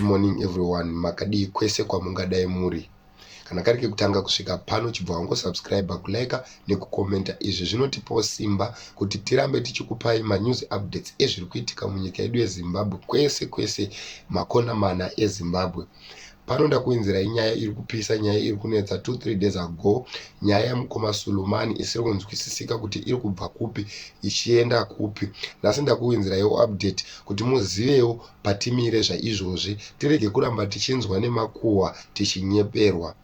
morning everyone makadii kwese kwamungadai muri kana kari kekutanga kusvika pano chibva wangosubscribe kulike nekukomenta izvi zvinotipawo simba kuti tirambe tichikupai manews updates ezviri kuitika munyika yedu yezimbabwe kwese kwese makona mana ezimbabwe pano ndakuinzirai nyaya iri kupisa nyaya iri kunetsa two three days ago nyaya yamukoma sulumani isiri kunzwisisika kuti iri kubva kupi ichienda kupi nhasi ndakuinziraiwo update kuti muzivewo patimire zvaizvozvi tirege kuramba tichinzwa nemakuhwa tichinyeperwa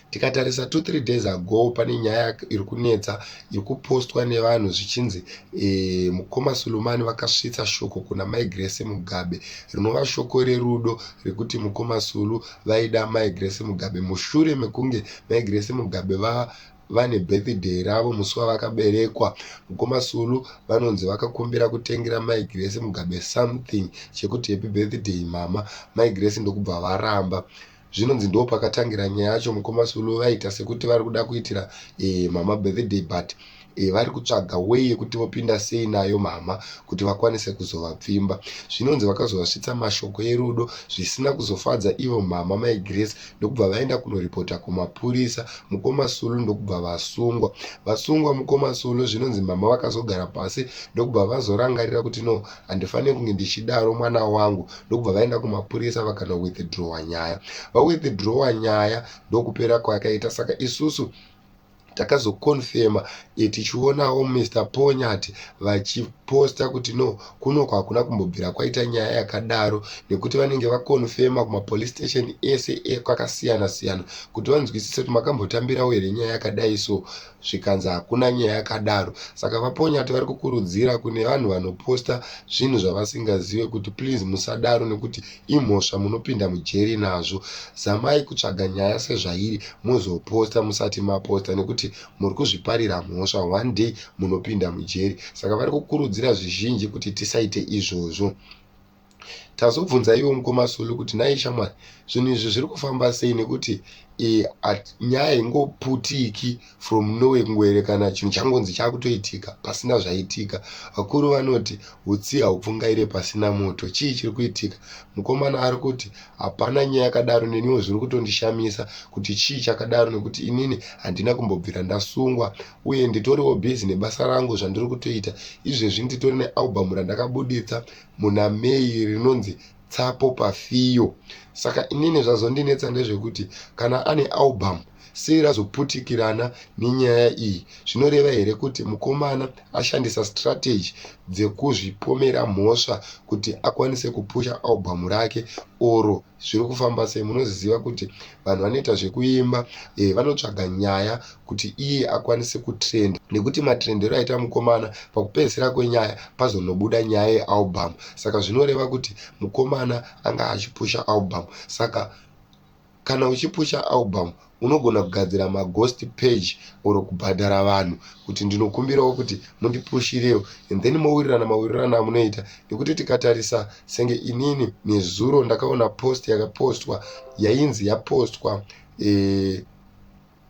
tikatarisa two three days ago pane nyaya iri kunetsa iri kupostwa nevanhu zvichinzi e, mukoma sulumani vakasvitsa shoko kuna mai grace mugabe rinova shoko rerudo rekuti mukoma sulu vaida mai grace mugabe mushure mekunge mai grace mugabe va vane birthday ravo musi wavakaberekwa mukoma sulu vanonzi vakakumbira kutengera mai grace mugabe something chekuti happy birthday mama mai grace ndokubva varamba zvinonzi ndo pakatangira nyaya yacho mukoma sulu vaita sekuti vari kuda kuitira e, mama birthday but e, vari kutsvaga wei yekuti vopinda sei nayo mama kuti vakwanise kuzovapfimba zvinonzi vakazovasvitsa mashoko erudo zvisina kuzofadza ivo mama mai grace ndokubva vaenda kunoripota kumapurisa mukoma sulu ndokubva vasungwa vasungwa mukoma sulu zvinonzi mama vakazogara pasi ndokubva vazorangarira kuti no handifanire kunge ndichidaro mwana wangu ndokubva vaenda kumapurisa vakana withdrowa nyaya vawithdrowa nyaya ndokupera kwayakaita saka isusu takazokonfema e, tichionawo mr ponyati vachiposta kuti no kuno kwakuna kumbobvira kwaita nyaya yakadaro nekuti vanenge vakonfema kumapolice station ese ekwakasiyana siyana kuti vanzwisise kuti makambotambirawo here nyaya yakadai so zvikanzi hakuna nyaya yakadaro saka vaponyati vari kukurudzira kune vanhu vanoposta zvinhu zvavasingazive kuti please musadaro nekuti imhosva munopinda mujeri nazvo zamai kutsvaga nyaya sezvairi mozoposta musati maposta nekuti muri kuzviparira mhosva one day munopinda mujeri saka vari kukurudzira zvizhinji kuti tisaite izvozvo tazobvunza ivo mukoma sulu kuti nai shamwari zvinhu izvi zviri kufamba sei nekuti e, at, nyaya ingoputiki from norway kungoerekana chinhu changonzi chakutoitika pasina zvaitika vakuru vanoti utsi haupfungaire pasina moto chii chiri kuitika mukomana ari kuti hapana nyaya yakadaro neniwo zviri kutondishamisa kuti chii chakadaro nekuti inini handina kumbobvira ndasungwa uye nditoriwo busy nebasa rangu zvandiri kutoita izvezvi nditori nealbum randakabuditsa muna May rinonzi Tsapo Pafiyo. Saka inini zvazondinetsa ndezvekuti kana ane album sei razoputikirana nenyaya iyi zvinoreva here kuti mukomana ashandisa strategy dzekuzvipomera mhosva kuti akwanise kupusha album rake oro zviri kufamba sei munozviziva kuti vanhu vanoita zvekuimba e, vanotsvaga nyaya kuti iye akwanise kutrenda nekuti matrendero aita mukomana pakupedzisira kwenyaya pazonobuda nyaya yealbum saka zvinoreva kuti mukomana anga achipusha album saka kana uchipusha album unogona kugadzira maghost page or kubhadhara vanhu kuti ndinokumbirawo kuti mundipushirewo and then mowirirana mawirirana amunoita nekuti tikatarisa senge inini nezuro ndakaona post yakapostwa yainzi yapostwa eh,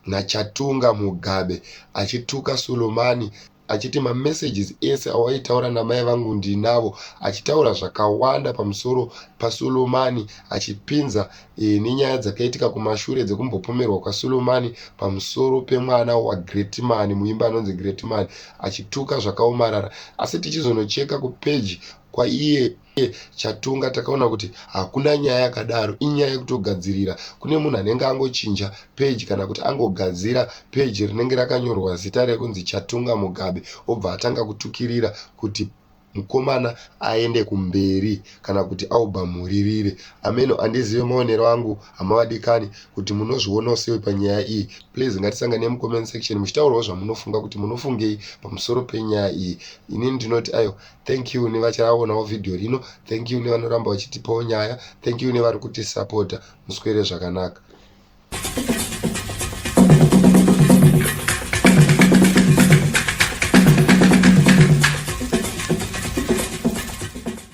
nachatunga mugabe achituka sulumani achiti mamessages ese awaitaura namai vangu ndinavo achitaura zvakawanda pamusoro pasulumani achipinza e, nenyaya dzakaitika kumashure dzekumbopomerwa kwasulumani pamusoro pemwana wagreatman muimba anonzi greatman achituka zvakaomarara asi tichizonocheka kupeji kwaiye uye chatunga takaona kuti hakuna nyaya yakadaro inyaya yekutogadzirira kune munhu anenge angochinja peji kana kuti angogadzira peji rinenge rakanyorwa zita rekunzi chatunga mugabe obva atanga kutukirira kuti mukomana aende kumberi kana kuti aubva muririre ameno andizive maonero angu hamavadikani kuti munozvionawo sei panyaya iyi please ngatisangane mucomment section muchitaurawo zvamunofunga kuti munofungei pamusoro penyaya iyi inini ndinoti ayo thank you nevachaonawo vhidhiyo rino thank you nevanoramba vachitipawo nyaya thank you nevari kutisapota muswere zvakanaka